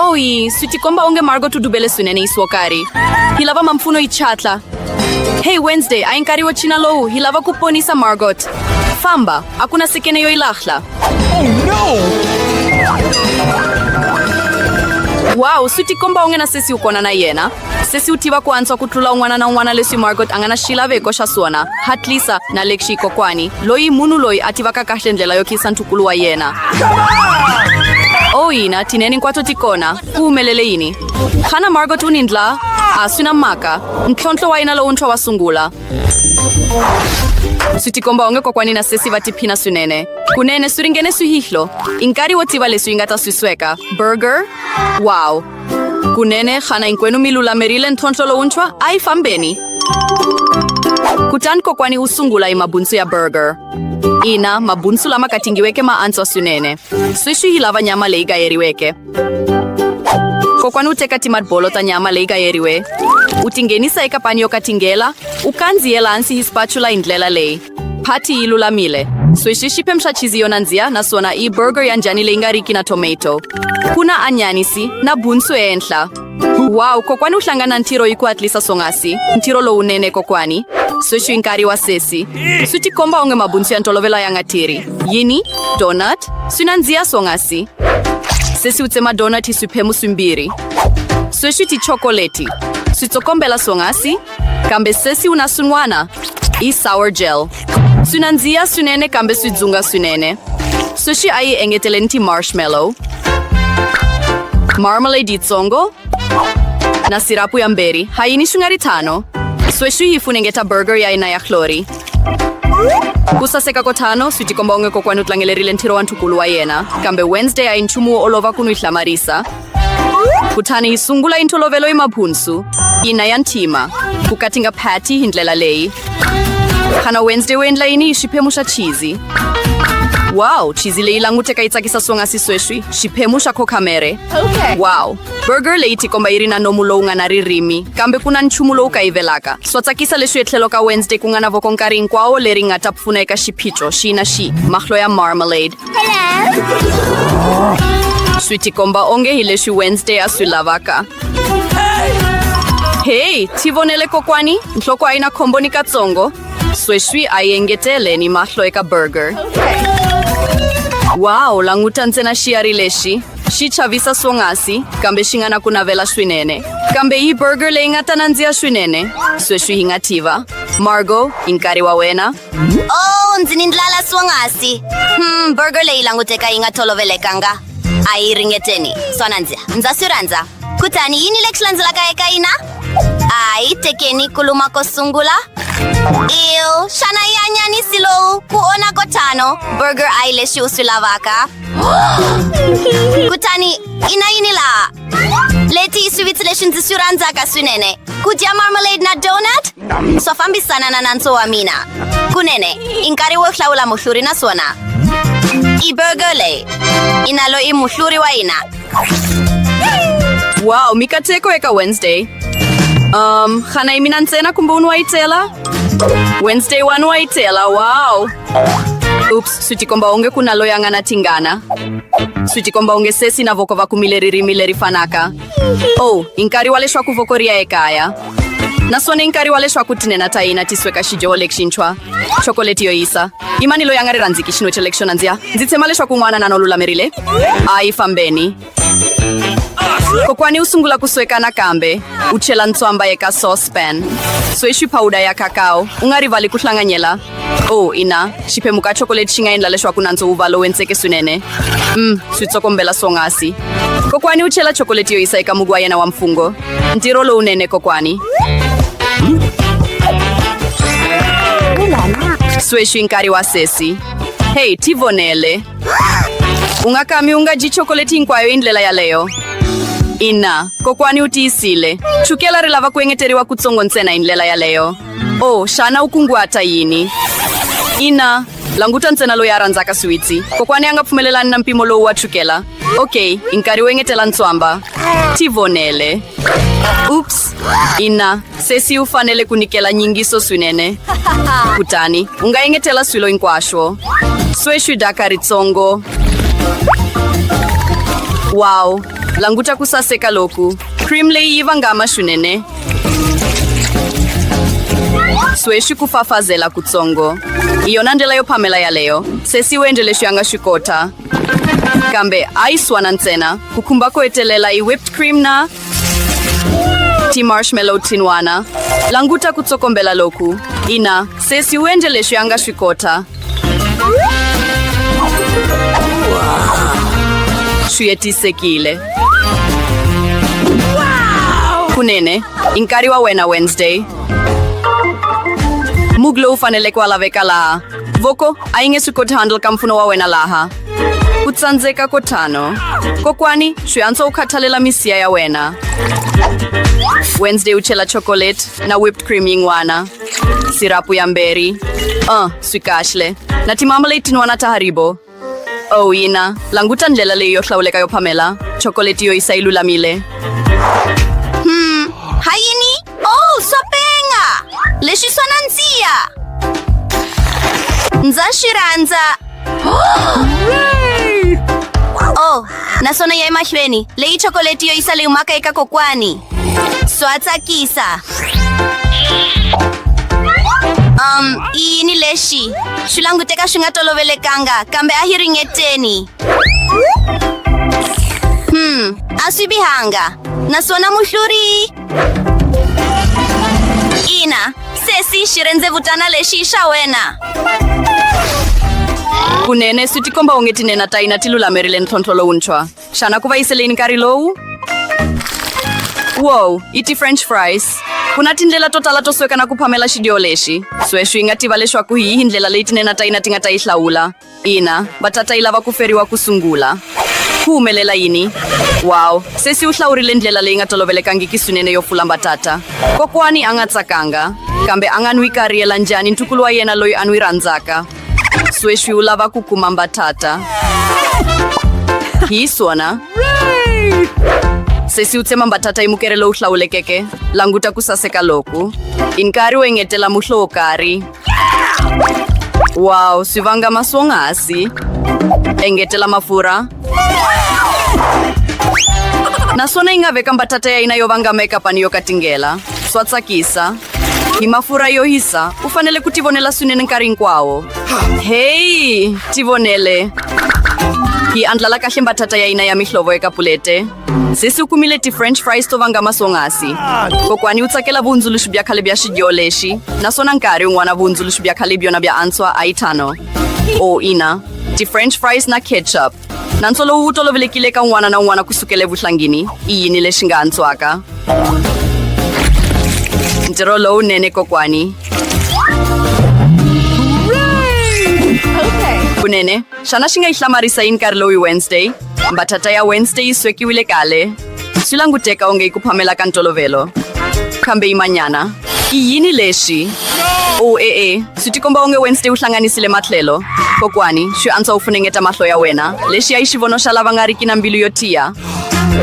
Oyi, sitikomba onge Margot udubele swinene yi swokari hi lava mampfuno yi chatla hey wednesday a yi nkarhi wo china lowu hi lava ku ponisa margot famba a ku na sekene yo yi lahla oh, no! wow swi tikomba onge na sesi u kona na yena sesi u tiva ku antswa ku tlula un'wana na un'wana leswi margot a nga na xilaveko xa swona hatlisa na lexi kokwani loyi munhu loyi a tivaka kahle ndlela yo khiyisa ntukulu wa yena o oh, yina tineni hinkwato ti kona ku humelele yini xana margot u ni ndla a swi na mhaka ntlhontlho wa yena lowuntshwa wa sungula swi tikomba onge kokwani na sesi va tiphina swinene kunene swi ringene swihihlo i nkarhi wo tiva leswi yi nga ta swi sweka burger wow Kunene, xana hinkwenu mi lulamerile ntlhontlho lowuntshwa? A yi fambeni. Kutani kokwani u sungula hi mabunsu ya burger. Ina, mabunsu lama katingiweke ma antswa swinene. Sweswi yi lava nyama leyi gayeriweke. Kokwani u teka timatbolo ta nyama leyi gayeriwe, u tinghenisa eka pani yo katingela, u kandziyela hansi hi spatula hi ndlela leyi. Pati yi lulamile. Sweswi xi phemxa chizi yo nandziha naswona i burger ya njhani leyi nga riki na tomato. Ku na anyanisi na bunsu ehenhla. Wow, kokwani u hlangana ntirho hi ku hatlisa swonghasi. Ntirho lowunene kokwani. Sweswi i nkarhi wa sesi. Swi tikomba onge mabunsu ya ntolovelo ya nga tirhi. Yini? Donut? Swi nandziha swonghasi. Sesi u tsema donut hi swiphemu swimbirhi. Sweswi tichokoleti. Switsokombela swonghasi kambe sesi una swin'wana i sour gel swi nandziha swinene kambe swi dzunga swinene sweswi a yi engetele ni ti-marshmallow marmalade yitsongo na sirapu ya mberi ha yini swi nga ri tano sweswi yi funengeta burger ya yena ya hlori ku saseka ko tano swi tikomba onge kokwani u tlangelerile ntirho wa ntukulu wa yena kambe wednesday a yi nchumu wo olova ku n'wi hlamarisa kutani hi sungula yi ntolovelo yi mabhunsu ina ya ntima ku katinga phati hi ndlela leyi khana wednesday wu endla yini hi xiphemu xa chizi wow chizi leyi languteka yi tsakisa swonghasi sweswi xiphemu xa khokhamere okay. wow burger leyi tikomba yi ri na nomu lowu nga na ririmi kambe ku na nchumu lowu kayivelaka swa tsakisa leswi etlhelo ka wednesday ku nga na voko nkarhi hinkwawo leri nga ta pfuna eka xiphiqo xi na xi mahlo ya marmalade swi tikomba onge hi leswi wednesday a swi lavaka heyi ti vonele kokwani nhloko a yi na khombo ni katsongo sweswi a yi engetele ni mahlo eka burger wawu languta ntsena xiyari lexi xi chavisa swonghasi kambe xi nga na ku navela swinene kambe yi burger leyi nga ta nandziha swinene sweswi hi nga tiva margo i nkarhi wa wena Oh, ndzi ni ndlala swonghasi. Hmm, burger leyi languteka yi nga tolovelekanga. A yi ringeteni. Swona ndzi ndza swi rhandza. Kutani yini lexi landzelaka eka yina? A yi tekeni ku luma ko sungula. Ew, xana yi anyanisi lowu ku ona ko tano. Burger a yi lexi u swi lavaka. Kutani, ina yini laha? Leti swivitsi leswi ndzi swi rhandzaka swinene ku dya marmalade na donut swa fambisana na nantso wa mina kunene i nkarhi wo hlawula muhluri naswona i burger leyi i na loyi muhluri wa hina wow mikateko eka wednesday um xana yi mina ntsena kumbe un'we wa yi tela wednesday one wa yi tela wow oops swi tikomba onge ku na loyi a nga na tingana swi tikomba onge sesi na voko va kumile ririmi leri fanaka o oh, i nkarhi wa leswaku voko ri ya ekaya naswona i nkarhi wa leswaku tinena ta hina ti sweka xidyoho lexintshwa chokoleti yo yisa i mani loyi a nga ri rhandziki xinwe xa lexo nandziya ndzi tshema leswaku n'wana na no lulamerile a yi fambeni kokwani u sungula ku sweka nakambe u chela ntswamba eka saucepan sweswi phawuda ya kakao u nga rivali ku hlanganyela o oh, ina xiphemu ka chokoleti xi nga endla leswaku nandzo wu va lowu entseke swinene um swi tsokombela swongasi kokwani u chela chokoleti yo yisa eka mugu wa yena wa mfungho ntirho lowunene kokwani sweswi nkarhi wa sesi heyi tivonele ungakami unga ji chokoleti hinkwayo hi ndlela yaleyo ina kokwani u tiyisile chukela ri lava ku engeteriwa kutsongo ntsena hi ndlela yaleyo o oh, xana u kunguhata yini ina languta ntsena loyi a rhandzaka swiwitsi kokwani a nga pfumelelani na mpimo lowu wa chukela ok i nkarhi wo engetela ntswamba tivonele ups ina sesi u fanele ku nyikela nyingiso swinene kutani u nga engetela swilo hinkwaswo sweswi daka ritsongo wow languta ku saseka loku cream leyi yi vangama swinene sweswi ku fafazela kutsongo hi yona ndlela yo phamela yaleyo sesi u endle leswi a nga swi kota kambe a yi swana ntsena ku khumba ko hetelela i whipped cream na ti marshmallow tinwana languta ku tsokombela loku ina se siwenje leswi a nga swi kota swi hetisekile kunene i nkarhi wa wena wednesday mug lowu faneleke wa laveka laha Voko, a yi nge swi koti handle ka mpfuno wa wena laha. Ku tsandzeka ko tano. Kokwani, swi antswa u khathalela misiya ya wena. Wednesday u chela chocolate na whipped cream yin'wana. Sirapu ya mberi. Uh, swi kahle. Na timamalate tin'wana ta Haribo. Oh, ina. Languta ndlela leyi yo hlawuleka yo phamela. Chocolate yo isa yi lulamile. Hmm, hayini? Oh, swa penga. Lexi swa nandziha. Ndza xi rhandza. Oh, naswona ya emahlweni. Leyi chocolate yo isa leyi humaka eka kokwani. Swaatsa kisa. Um, iyi ni lexi swi languteka swi nga tolovelekanga kambe a yi ringeteni hmm a swi bihanga naswona muhluri ina sesi xi rendzevutana lexi i xa wena kunene swi tikomba onge tinena ta hina ti lulamerile ntlhontlho lowuntshwa Xana ku va yiseleni nkarhi lowu? Wow, i ti-french fries. Ku na tindlela to tala to sweka na ku phamela xidyo lexi. Sweswi hi nga tiva leswaku hi yihi ndlela leyi tinena ta yina ti nga ta yi hlawula. Ina, va tata yi lava ku feriwa ku sungula. Ku humelela yini? Wow, sesi u hlawurile ndlela leyi nga tolovelekangiki swinene yo pfula mbatata. Kokwani a nga tsakanga, kambe a nga n'wi kariyela njhani ntukulu wa yena loyi a n'wi rhandzaka. sweswi u lava ku kuma mbatata hi swona sesi u tsema mbatata hi mukere lowu hlawulekeke languta ku saseka loku i nkarhi wo engetela muhlo wo karhi waw swi vanga maswonghasi engetela mafurha naswona yi nga veka mbatata ya yina yo vanga makeup ani yo katingela swa tsakisa hi mafurha yo hisa u fanele ku tivonela swinene nkarhi hinkwawo heyi tivonele yi andlala kahle mbatata ya yina ya mihlovo eka pulete sesi u kumile ti-french fries to vanga maswonghasi kokwani u tsakela vuhundzuluxi bya khale bya xidyo lexi naswona nkarhi un'wana vuhundzuluxi bya khale byona bya antswa a yi thano o ina ti-french fries na ketchup nantswo lowu wu tolovelekile ka un'wana na un'wana ku sukela evuhlangini i yini lexi nga antswaka ntirho lowunene kokwani kunene xana xi nga yi hlamarisa yi nkarhi lowu hi wednesday mbatata ya wednesday yi swekiwile kale Swi languteka onge i ku phamela ka ntolovelo. Kambe yimanyana. I yini lexi? O oh, e-e, eh, eh. swi tikomba onge Wednesday u hlanganisile matlhelo. Kokwani, swi antswa u funengeta mahlo ya wena. Lexi ya yi xivono xa lava nga riki na mbilu yo tiya.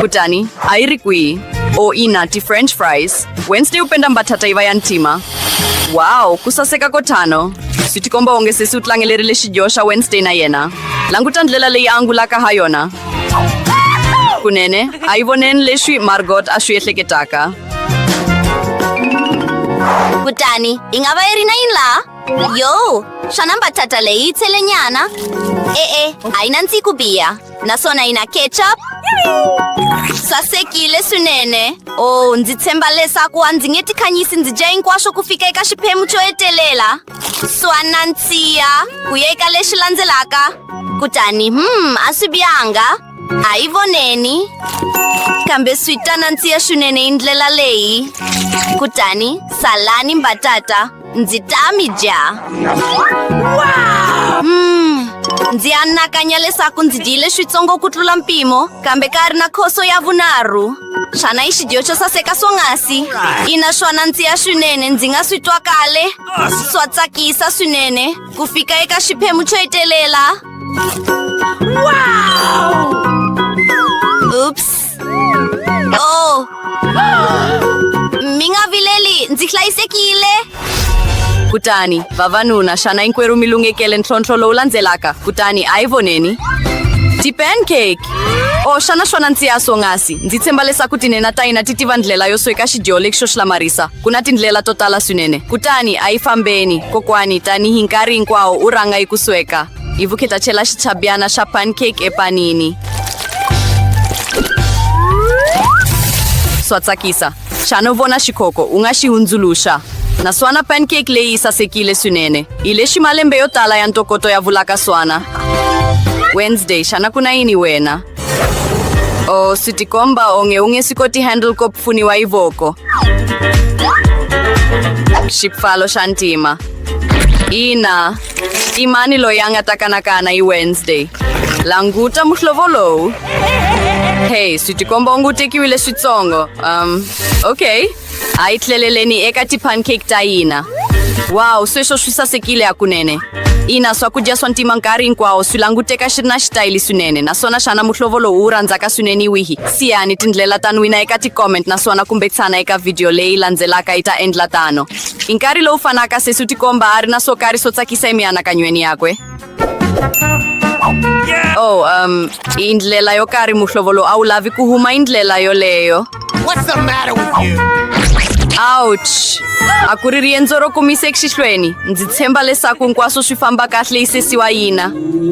Kutani, a yi ri kwihi? O oh, ina, ti-french fries. Wednesday u penda mbatata yi va ya ntima. Wow, ku saseka ko tano. Swi tikomba onge sesi u tlangelerile xidyoho xa Wednesday na yena. Languta ndlela leyi a angulaka ha yona. kunene a yi voneni leswi margot a swi ehleketaka kutani yi nga va yi ri na yini laha yo xana mbatata leyi yi tshele nyana e-e a yi na ndziku biya naswona yi na ketchup sasekile swinene o oh, ndzi tshemba leswaku a ndzi nge tikhanyisi ndzi dya hinkwaswo ku fika eka xiphemu xo hetelela swa nandziha ku ya eka lexi landzelaka kutani hmm a swi bihanga a yi voneni kambe swi ta nandziha swinene hi ndlela leyi kutani salani mbatata ndzi ta mi dya hmm ndzi anakanya leswaku ndzi dyile switsongo ku tlula mpimo kambe ka ri na khoso ya vunharhu xana i xidiyo xo saseka swonghasi ina swona ndzi ya swinene ndzi nga swi twa kale swa tsakisa swinene ku fika eka xiphemu xo hetelela ups o oh. mi nga vileli ndzi hlayisekile kutani vavanuna xana inkwerhu mi lunghekele ntlhontlho lowu landzelaka kutani a yi voneni ti-pancake o oh, xana swona ndzi ya swonghasi ndzi tshemba leswaku tinena ta hina ti tiva ndlela yo sweka xidyo lexi xo xilamarisa ku na tindlela to tala swinene kutani a yi fambeni kokwani tanihi nkarhi hinkwawo u rhanga yi ku sweka hi vukheta chela xichabyana xa pancake epanini swa tsakisa Xana u vona xikhoko u nga xi hundzuluxa? Naswona pancake leyi yi sasekile swinene. Hi lexi malembe yo tala ya ntokoto ya vulaka swana. Wednesday, xana ku na yini wena? O swi tikomba onge u nge swi koti handle ko pfuniwa hi voko. Xipfalo xa ntima. Ina, I mani loyi a nga ta kanakana hi Wednesday? Languta muhlovo lowu. Hey, swi tikomba u ngutekiwile switsongo. Um, okay. A yi tleleleni eka ti-pancake ta hina. Wow, sweswo swi sasekile hakunene. Ina, swakudya swa ntima nkarhi hinkwawo swi languteka xi ri na xitayili swinene naswona xana muhlovo lowu wu rhandzaka swinene hi wihi? Siyani tindlela ta nwina eka ti-comment naswona kumbe tshana eka vhidiyo leyi landzelaka yi ta endla tano. Hi nkarhi lowu fanaka, sesi u tikomba a ri na swo karhi swo tsakisa emianakanyweni yakwe. Oh, um, hi ndlela yo karhi muhlovo lowu a wu lavi ku huma hi ndlela yoleyo. Ouch! A ku ri riendzo ro kumisa exihlweni. Ndzi tshemba leswaku hinkwaswo swi famba kahle yi sesiwa yina.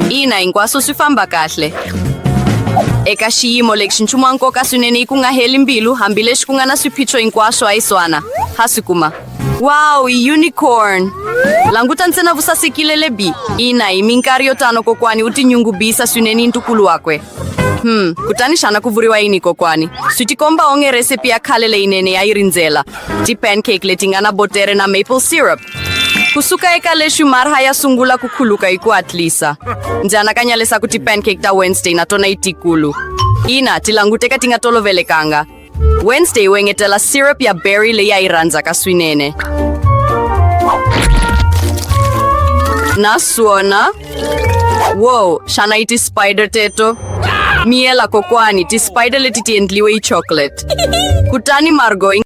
Ina, hinkwaswo swi famba kahle. eka xiyimo lexi nchumu wa nkoka swinene yi ku nga heli mbilu hambileswi ku nga na swiphiqo hinkwaswo a yi swana ha swi kuma wow i unicorn languta ntsena vusasekile lebi ina hi minkarhi yo tano kokwani u tinyungubisa swinene yi ntukulu wakwe hmm kutani xana ku vuriwa yini kokwani swi tikomba onge recipe ya khale leyinene ya yi rindzela ti-pancake leti nga na botere na maple syrup kusuka eka leswi marha ya sungula ku khuluka hi ku hatlisa ndzi anakanya leswaku ti-pancake ta wednesday na tona yi tikulu ina ti languteka ti nga tolovelekanga wednesday wu engetela syrup ya berry leyi a yi rhandzaka swinene naswona wow xana yi ti-spider teto miyela kokwani ti-spider leti ti endliwe yi chocolate kutani margo yi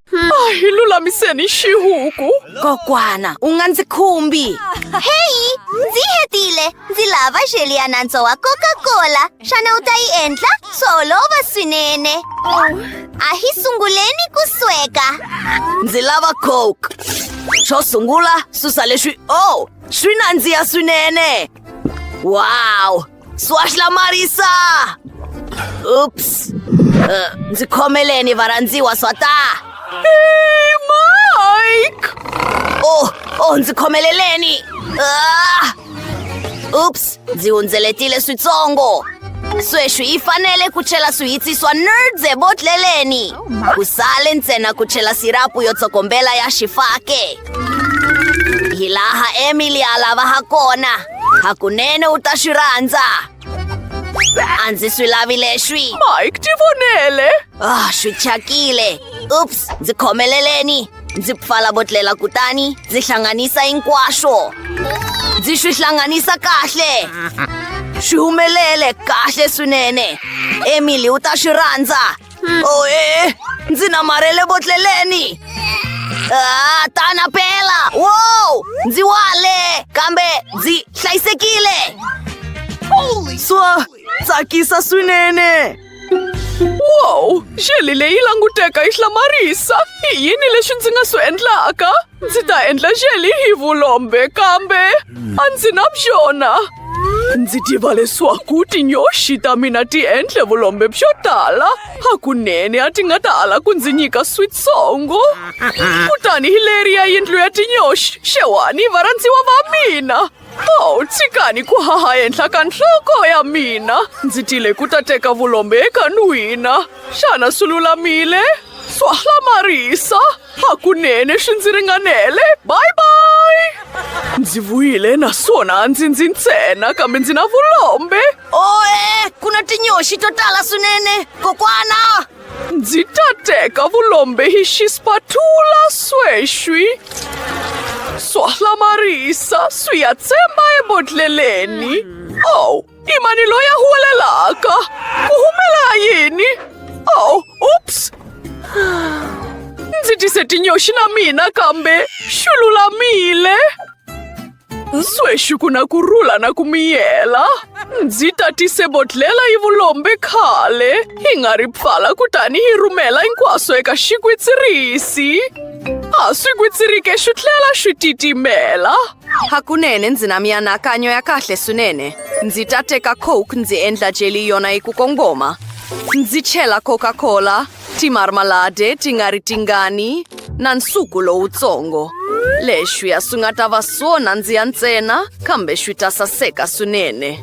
hi lulamiseni xihuku Kokwana, u nga ndzi khumbi. Heyi, ndzi hetile. Ndzi lava xeli ya nantswo wa Coca-Cola. Xana u ta yi endla? Swa olova swinene. A hi sunguleni ku sweka. Ndzi lava Coke. Xo sungula, susa leswi. Oh, swi nandziha swinene. Wow! Swashla Marisa! Oops. Uh, ndzi khomeleni varhandziwa swata. Hey, Mike! Oh, oh, ndzi khomeleleni. Ah! Oops, ndzi hundzeletile switsongo. Sweswi yi fanele ku chela swihitsi swa nerds ebotleleni. Ku sale ntsena ku chela sirapu yo tsokombela ya xifake. Hi laha Emily a lava ha kona. Hakunene u ta swi rhandza. A ndzi swi lavi leswi. Mike, ti vonele. Ah, swi thyakile. Ups, ndzi khomeleleni. Ndzi pfala botlela kutani ndzi hlanganisa hinkwaswo. Ndzi swi hlanganisa kahle. Swi humelele kahle swinene. Emily u ta swi rhandza. oe ndzi namarhele botleleni Ah, tana pela wow ndzi wale kambe ndzi hlayisekile swa tsakisa swinene wow xeli leyi languteka yi hlamarisa i yini leswi ndzi nga swi endlaka Ndzi ta endla xeli hi vulombe kambe a ndzi na byona. Ndzi tiva leswaku tinyoxi ta mina ti endle vulombe byo tala. Hakunene a ti nga ta ala ku ndzi nyika switsongo. Kutani hi leri ya yindlu ya tinyoxi, xewani varhandziwa va mina. Oh, tshikani ku haha henhla ka nhloko ya mina ndzi tile ku ta teka vulombe eka n'wina xana swi lulamile swa hlamarisa hakunene swi ndzi ringanele bye bye ndzi vuyile naswona a ndzi ndzi ntsena kambe ndzi na vulombe oe ku na tinyoxi to tala swinene kokwana Ndzi ta teka vulombe hi xispatula sweswi swo hlamarisa swi ya tsemba ebodleleni ow i mani loyi a huwelelaka ku humela yini ow ups ndzi tise tinyoxi na mina kambe xi lulamile Sweswi ku na ku rhula na ku miyela. Ndzi tatise bodlhela yi vulombe khale, hi nga ri pfala kutani hi rhumela hinkwaswo eka xigwitsirisi. A swi gwitsirike swi tlhela swi titimela. Hakunene ndzi na mianakanyo ya kahle swinene. Ndzi ta teka Coke ndzi endla jelly yona yi ku kongoma. Ndzi chela Coca-Cola. Timarmalade ti nga ri tingani na nsuku lowutsongo. Leswi a swi nga ta va swo nandziha ntsena kambe swi ta saseka swinene.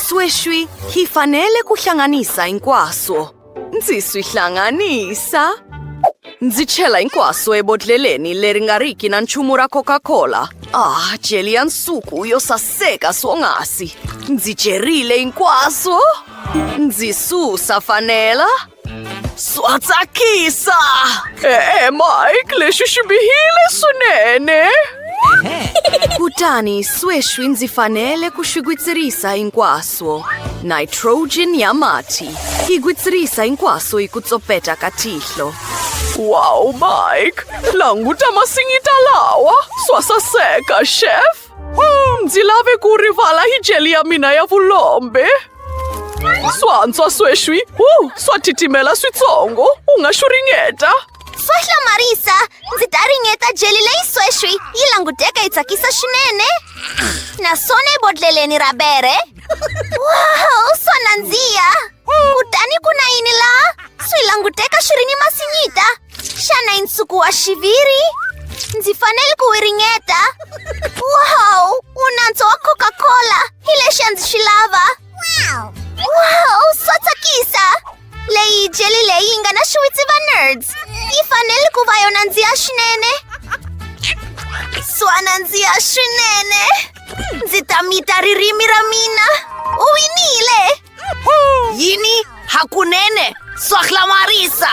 Sweswi hi fanele ku hlanganisa hinkwaswo. Ndzi swi hlanganisa. Ndzi chela hinkwaswo ebodlheleni leri nga riki na nchumu ra Coca-Cola. Ah, jeli ya nsuku yo saseka swonghasi. Ndzi jerile hinkwaswo. Ndzi susa fanela. Swa tsakisa! E-e, Mike, lexi xi bihile swinene! Kutani sweswi ndzi fanele ku swi gwitsirisa hinkwaswo. Nitrogen ya mati yi gwitsirisa hinkwaswo hi ku tsopeta ka tihlo. Wow, Mike! Languta masinyita lawa! Swa saseka, chef! Mzilabe ku rivala hi jeli ya mina ya vulombe swantswa sweswi u swa titimela switsongo u nga xu ringeta Swa hlamarisa! Ndzi ta ringeta jeli leyi sweswi yi languteka yi tsakisa swinene naswona ebodleleni ra bere wow swa nandziha kutani ku na yini laha swi languteka swi ri ni masinyita Xana i nsuku wa xiviri? Ndzi fanele ku wi ringeta. Wow! Wu nantswo wa Coca-Cola. Hi lexi a ndzi xi lava. Wow! Swa tsakisa! Leyi jeli leyi nga na xiwitsi va nerds. Yi fanele ku va yo nandziha swinene. Swa nandziha swinene. Ndzi ta mita ririmi ra mina. U winile! Yini hakunene swahla marisa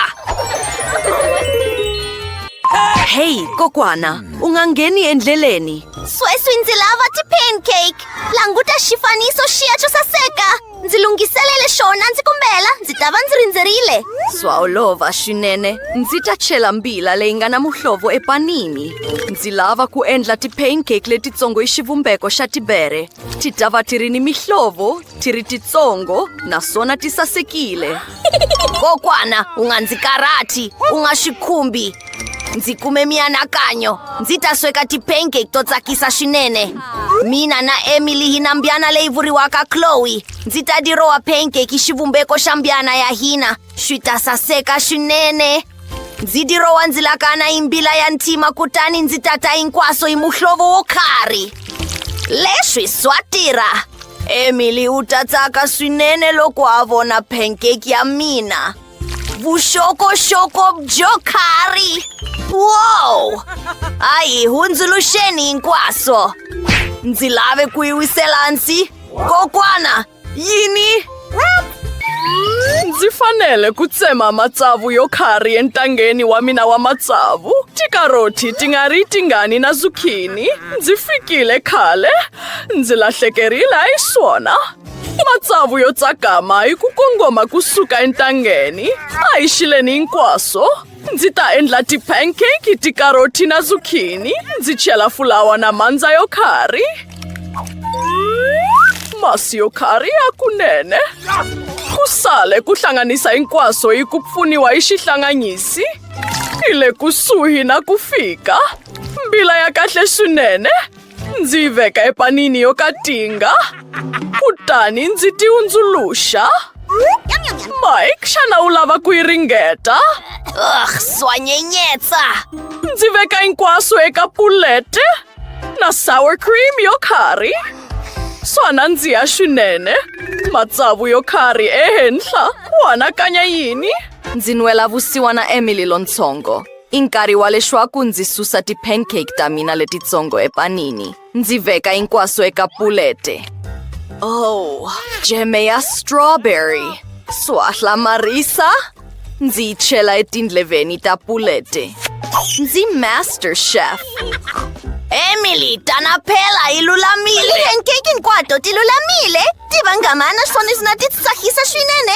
Hey kokwana u nga ngheni endleleni sweswi ndzi lava ti-pancake languta xifaniso xiya xo saseka ndzi lunghiselele xona ndzi kumbela ndzi ta va ndzi rindzerile swa olova swinene ndzi ta chela mbila leyi nga na muhlovo epanini ndzi lava ku endla ti-pancake letitsongo hi xivumbeko xa tibere Tidava ti ri ni mihlovo, ti ri titsongo naswona ti sasekile. Kokwana, u nga ndzi karhati, u nga swi khumbi. Ndzi kume mianakanyo, ndzi ta sweka ti-pancake to tsakisa swinene. Mina na Emily hi na mbyana leyi vuriwaka Chloe. Ndzi ta dirowa pancake hi xivumbeko xa mbyana ya hina, swi ta saseka swinene. ndzi dirowa ndzi lakana hi mbila ya ntima kutani ndzi tata hinkwaso hi muhlovo wo khari leswi swa tirha emily u ta tsaka swinene loko a vona pancake ya mina vuxokoxoko byo khari wow hayi hundzuluxeni hinkwaso ndzi lave ku yi wisela kokwana Yini? Ndzi fanele ku tsema matsavu yo khari entangeni wa mina wa matsavu. Tikaroti ti nga ri tingani na zukhini. Ndzi fikile khale. Ndzi lahlekerile hi swona. Matsavu yo tsakama hi ku kongoma kusuka entangeni. A hi xileni hinkwaswo. ndzi ta endla ti-pancake tikaroti na zukhini ndzi chela fulawa na mandza yo khari masi yo khari ya kunene ku sale ku hlanganisa hinkwaswo hi ku pfuniwa hi xihlanganyisi hi le kusuhi na ku fika mbila ya kahle swinene Ndzi yi veka epanini yo katinga kutani ndzi ti hundzuluxa. Mike, xana u lava ku yi ringeta? Ugh, swanyenyetsa! Ndzi veka hinkwaswo eka pulete na sour cream yo khari. Swa nandziha swinene. Matsavu yo khari ehenhla. U anakanya yini? Ndzi nwela vusiwana Emily lontsongo. I nkarhi wa leswaku ndzi susa ti-pancake ta mina letitsongo epanini ndzi veka hinkwaswo eka pulete oh jeme ya strawberry swa hlamarisa ndzi yi chela etindleveni ta pulete ndzi master chef emily tana phela yi lulamile pancake hinkwato ti lulamile ti vangamana swona swi na ti tsakisa swinene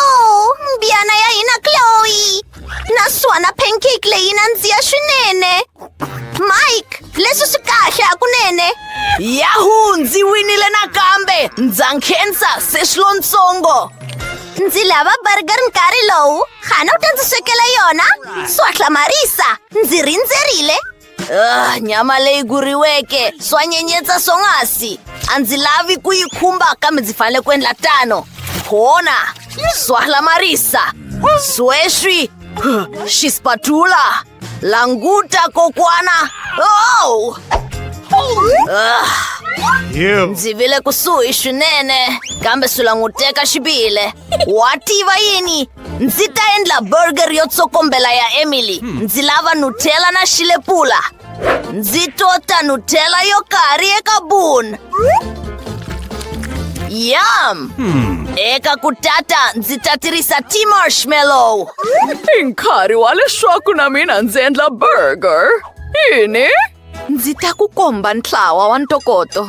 Oh, mbyana ya hina Chloe! Naswona pancake leyi nandziha swinene! Mike, leswi swi kahle hakunene! Yahoo! Ndzi winile nakambe! Ndza nkhensa se swi lontsongo! Ndzi lava burger nkarhi lowu! Xana u ta ndzi swekela yona? Swa hlamarisa! Ndzi rindzerile! Ah, nyama leyi guriweke swa nyenyetsa swonghasi a ndzi lavi ku yi khumba kambe ndzi fanele ku endla tano khona swa hlamarisa sweswi xispatula languta kokwana oh! Ah, Ew. ndzi vile kusuhi swinene kambe swi languteka xibile wa tiva yini ndzi ta endla burger yo tsokombela ya emily hmm. ndzi lava nutella na xilepula ndzi tota nutella yo karhi eka bun yam hmm. eka ku tata ndzi ta tirhisa t-marshmallow i nkarhi wa leswaku na mina ndzi endla burger yini Ndzi ta ku komba ntlawa wa ntokoto.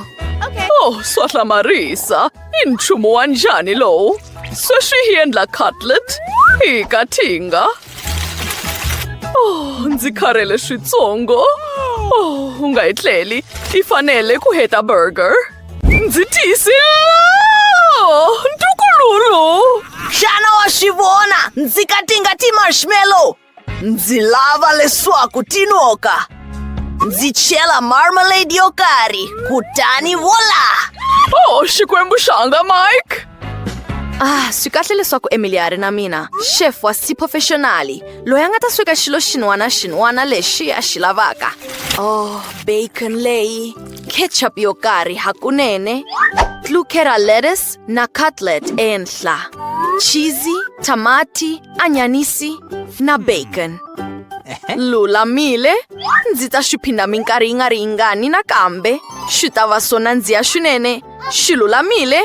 Oh, swa hlamarisa. I nchumu wa njhani lowu? Sweswi hi endla cutlet hi kathinga. Oh, ndzi kharhele switsongo. Oh, u nga yi tleli. I fanele ku heta burger. Ndzi tiyisile. Oh, ntukululu. Xana wa swi vona? Ndzi katinga ti-marshmallow. ndzi lava leswaku tinoka ndzi chela marmalade yo karhi kutani vola oh xikwembu xanga mike ah swi kahle leswaku emily a ri na mina chef wa siphofexonali loyi a nga ta sweka xilo xin'wana xin'wana lexi a xi lavaka oh bacon leyi ketchup yo karhi hakunene tlukera lettuce na cutlet ehenhla cheesy tamati anyanisi na hmm. bacon. Lulamile, ndzi ta swi phinda minkarhi yi nga ri yingani nakambe. Swi ta va swo nandziha swinene. Swi lulamile.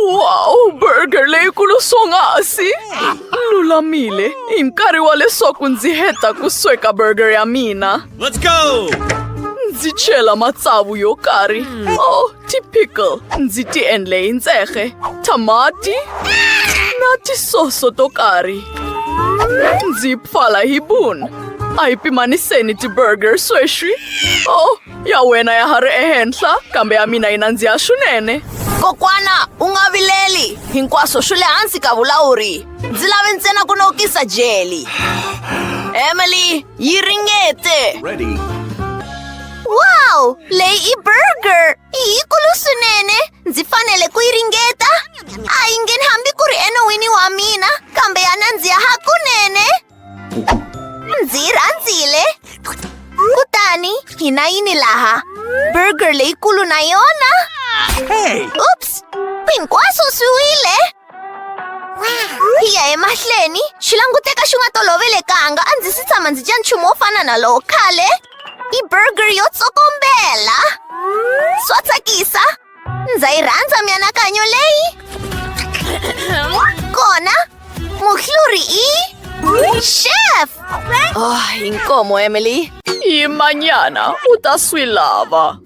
Wow, burger leyikulu swonghasi! Lulamile, hi nkarhi wa leswaku ndzi heta ku sweka burger ya mina. Let's go! Ndzi chela matsavu yo karhi. Hmm. Oh, Tipikal, ndzi ti endle hi ntsehge, thamati na tisoso to karhi. Ndzi pfala hi bun. A hi pimaniseni ti-burger sweswi. Oh, ya wena ya ha ri ehenhla, kambe ya mina yi nandziha swinene. Kokwana, u nga vileli. Hinkwaswo swi le hansi ka vulawuri. Ndzi lave ntsena ku nokisa jeli. Emily, yi ringete. Ready. Wow! Lady Burger! Iyi kulusunene! Ndzi fanele ku yi ringeta! A yi ngheni hambi ku ri enon'wini wa mina, kambe ya nandziha hakunene! Ndzi yi rhandzile! Kutani, hi na yini laha? Burger leyikulu na yona? Oops! Hinkwaswo swi wile! Hi ya emahlweni, xi languteka xi nga tolovelekanga, a ndzi si tshama ndzi dya nchumu wo fana na lowo khale. I burger yo tsokombela. Swa tsakisa. Ndza yi rhandza mianakanyo leyi. Kona, muhluri i chef. Oh, inkomo Emily. Hi manyana u ta swi lava.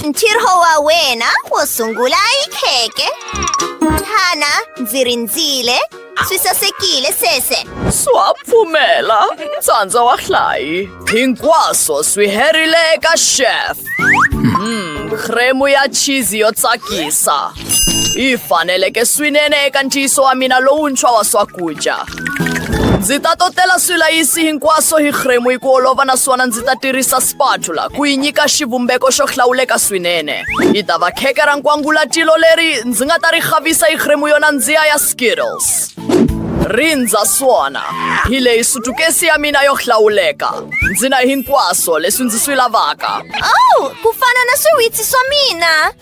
Ntirho wa wena wo sungula i kheke. Hana, ndzi rindzile. Swi sasekile sweswe. Swa pfumela. Tsandza wa hlayi. Hinkwaswo swi herile eka chef. Mm, kremu ya cheese yo tsakisa. Yi faneleke swinene eka ntiyiso wa mina lowuntshwa wa swakudya. Ndzi ta totela swilayisi hinkwaswo hi kremu hi ku olova naswona ndzi ta tirhisa spatula ku yi nyika xivumbeko xo hlawuleka swinene. Yi ta va kheke ra nkwangulatilo leri ndzi nga ta ri khavisa hi kremu yo nandziha ya Skittles. Rindza swona. Hi leyi sutukesi ya mina yo hlawuleka. Ndzi na hinkwaswo leswi ndzi swi lavaka. Oh, ku fana na swiwitsi swa mina.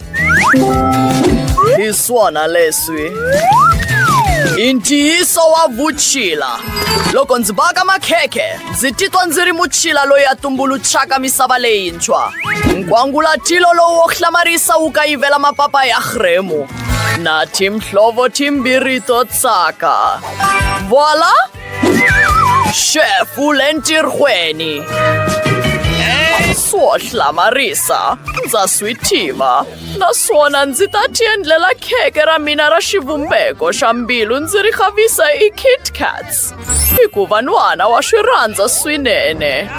Hi swona leswi. I ntiyiso wa vutshila. Loko ndzi baka makhekhe, ndzi titwa ndzi ri mutshila loyi a tumbuluxaka misava leyintshwa. Nkwangulatilo lowu wo hlamarisa wu kayivela mapapa ya Hremu. Na tim hlovo tim birito tsaka. Voila! Chef ulentirhweni. Swo hlamarisa, ndza swi tiva. Naswona ndzi ta ti endlela kheke ra mina ra xivumbeko xa mbilu ndzi ri xavisa i Kit Kats. hikuva nhwana wa swi rhandza swinene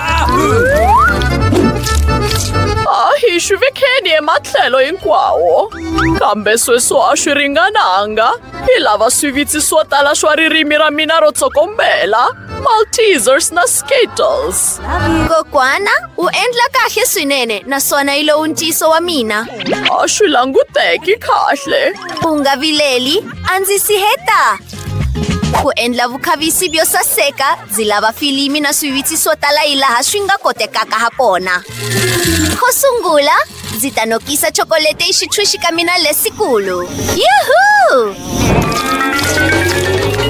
a hi swi vekeni ematlhelo hinkwawo kambe sweswo a swi ringananga hi lava swivitsi swo tala swa ririmi ra mina ro tsokombela maltesers na skittles kokwana u endla kahle swinene naswona yi lowu ntiyiso wa mina a swi languteki kahle u nga vileli a ndzi si heta ku endla vukhavisi byo saseka byi lava filimi na swivitsi swo tala hi laha swi nga kotekaka ha kona xo sungula ndzi ta nokisa chokolete yi xitshwixi ka mina lesikulu yuhu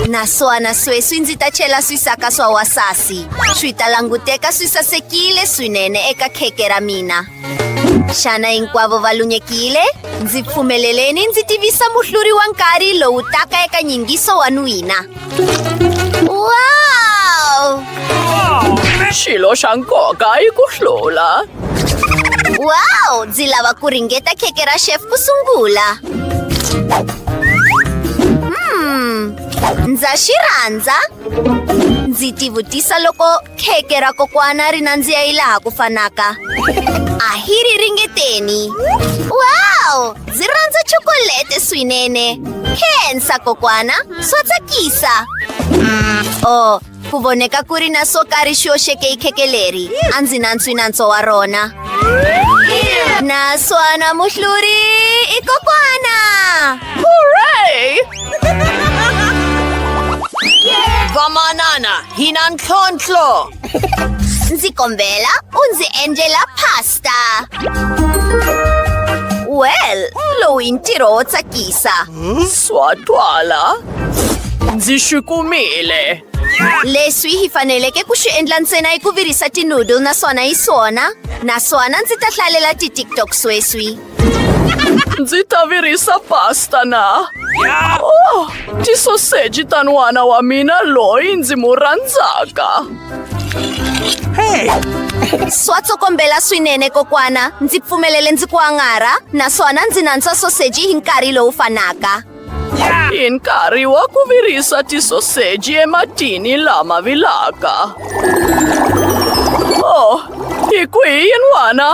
naswona sweswi ndzi ta chela swisaka swa wasasi swi ta languteka swi sasekile swinene eka kheke ra mina xana hinkwavo va lunyekile ndzi pfumeleleni ndzi tivisa muhluri wa nkarhi lowu taka eka nyingiso wa n'wina wow xilo xa nkoka i ku hlula wow ndzi lava ku ringeta kheke ra chef ku sungula hmm ndza xi rhandza ndzi tivutisa loko kheke ra kokwana ri nandziha yi laha ku fanaka a hi ri ringeteni wow ndzi rhandza chokolete swinene khensa kokwana swa tsakisa o oh, ku voneka ku ri na swo karhi xi yoxeke yi kheke leri a ndzi nantswi nantso wa rona naswona muhluri i kokwana Vamanana, hinantlontlho. Ndzi kombela u ndzi endlela pasta. Well, lowu i ntirho wo tsakisa. Swa twala. Ndzi swi kumile. Leswi hi faneleke ku swi endla ntsena i ku virisa tinoodle naswona yi swona. Naswona ndzi ta hlalela ti-tiktok sweswi. Ndzi ta virisa pasta na. Oh, tisoseji ta n'wana wa mina loyi ndzi mu rhandzaka. Swa tsokombela swinene kokwana. Ndzi pfumelele ndzi ku angarha naswona ndzi nantswa soseji hi nkarhi lowu fanaka. In nkarhi wa ku virisa tisoseji ematini lama vilaka. Oh, hi kwihi yin'wana?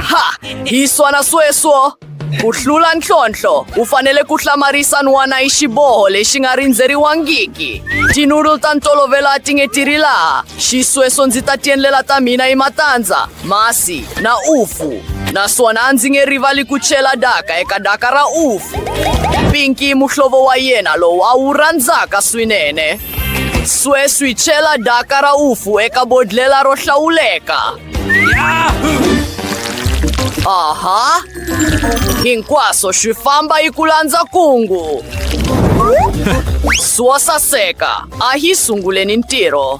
Ha! Hi swana sweswo! Ku hlula ntlhontlho, u fanele ku hlamarisa n'wana hi xiboho lexi nga rindzeriwangiki. Tinulu ta ntolovelo a ti nge ti ri laha. Xisweswo ndzi ta tiendlela ta mina hi matandza. masi na ufu naswona a ndzi nge rivali ku chela daka eka daka ra ufu pinki muhlovo wa yena lowu a wu rhandzaka swinene sweswi chela daka ra ufu eka bodlela ro hlawuleka aha hinkwaswo swi famba yi ku landza kungu swo saseka a hi sunguleni ntirho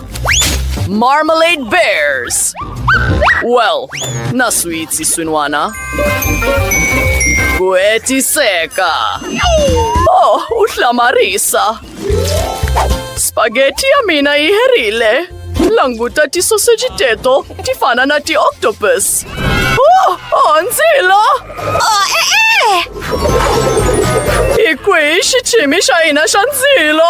Marmalade Bears! Well, na-sweet si Swinwana. Kweti Seka. Oh, utla Marisa. Spaghetti a mina yi herile. Languta tisoseji teto ti fana na ti-octopus. Oh, oh, ndzilo! Oh, e e! Hi kwihi xichimi xa hina xa ndzilo?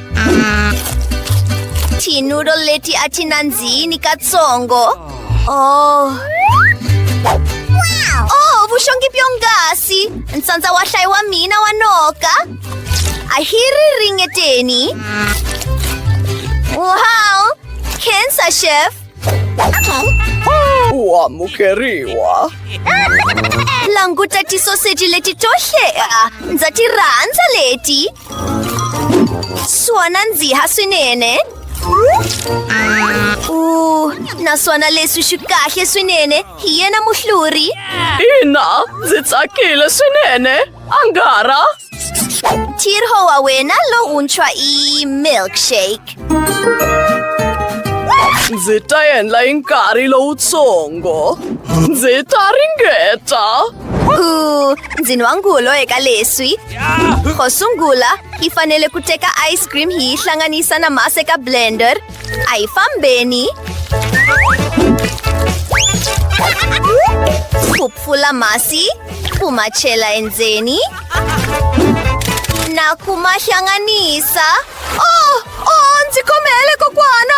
Tinudo leti a ti nandzini katsongo. Oh. Oh, vuxongi byonghasi. Ntsandza wa hlayi wa mina wa noka. A hi ri ringeteni. Wow! Khensa, chef. U amukeriwa. Languta tisoseji leti to hlea. Ndza ti rhandza leti. Swa nandziha swinene. Uh, naswona leswi swi kahle swinene hi yena muhluri. Ina, ndzi tsakile swinene. Angara. Tirho wa wena lowuntshwa i milkshake. Ndzi ta endla hi nkarhi lowutsongo. Ndzi ta ringeta. Ooh, ndzi nwa ngulo eka leswi xo sungula yi fanele ku teka ice cream hi yi hlanganisa na masi eka blender a hi fambeni ku pfula masi ku ma chela endzeni na ku ma hlanganisa oh, oh ndzi khomele kokwana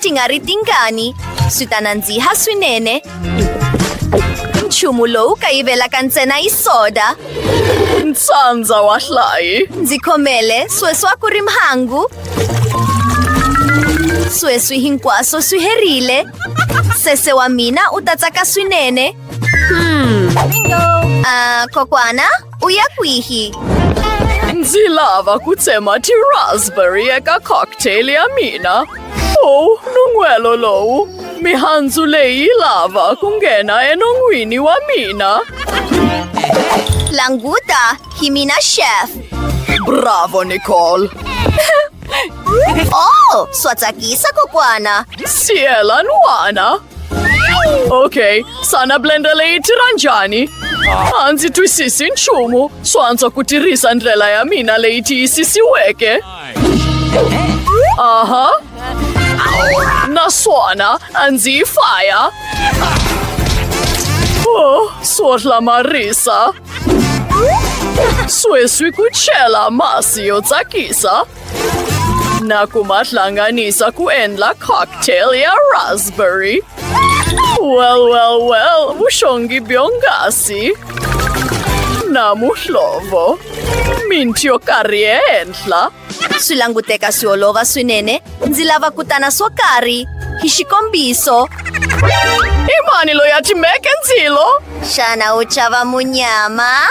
ti nga ri tingani swi ta nandziha swinene nchumu lowu kayivelaka ntsena yi soda ntsandza wa hlayi ndzi khomele sweswi a ku ri mhangu sweswi hinkwaswo swi herile sese wa mina u ta tsaka swinene hmm. a kokwana Uyakuihi. Ndzi lava ku tsema ti-raspberry eka cocktail ya mina. Oh, nun'hwelo lowu. Mihandzu leyi yi lava ku nghena enon'wini wa mina. Languta, hi mina chef. Bravo, Nicole. Oh, swa tsakisa kokwana. Siyela n'wana. Ok, sana blender leyi tirha njhani? A ndzi twisisi nchumu. Swo antswa ku tirhisa ndlela ya mina leyi tiyisisiweke. Aha. Naswona a ndzi yi faya. Oh, swo hlamarisa. Sweswi ku chela masi yo tsakisa. Nakumat lang nga ni sa kuenla cocktail ya raspberry. Well, well, well, mushongi biongasi. Namuhlovo. Mintio karientla. Swi languteka swi olova swinene. Ndzi lava ku tana swo karhi. Hi xikombiso. I mani loyi a timeke ndzilo? Xana u chava munyama?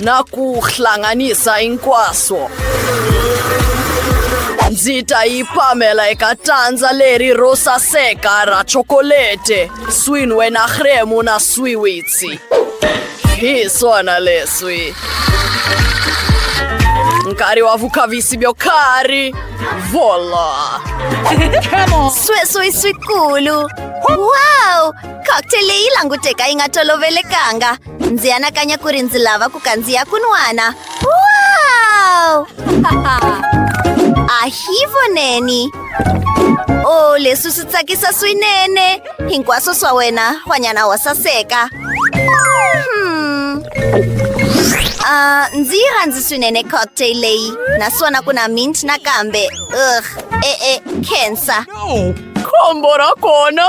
nakuhlanganisa hinkwaswo ndzi ta yi pamela eka tandza leri ro saseka ra chokolete swin'we na hremu na swiwitsi hi swona leswi nkarhi wa vukhavisi byo karhi vola sweswi swikulu wow cocktail leyi languteka yi nga tolovelekanga ndzi anakanya ku ri ndzi lava ku kandziya kun'wana wow a hi voneni o oh, leswi swi tsakisa swinene hinkwaswo swa wena hwanyana wa saseka hmm. Uh, ndzi yi rhandzi swinene cocktail leyi naswona ku na mint nakambe ugh e-e cancer khombo ra kona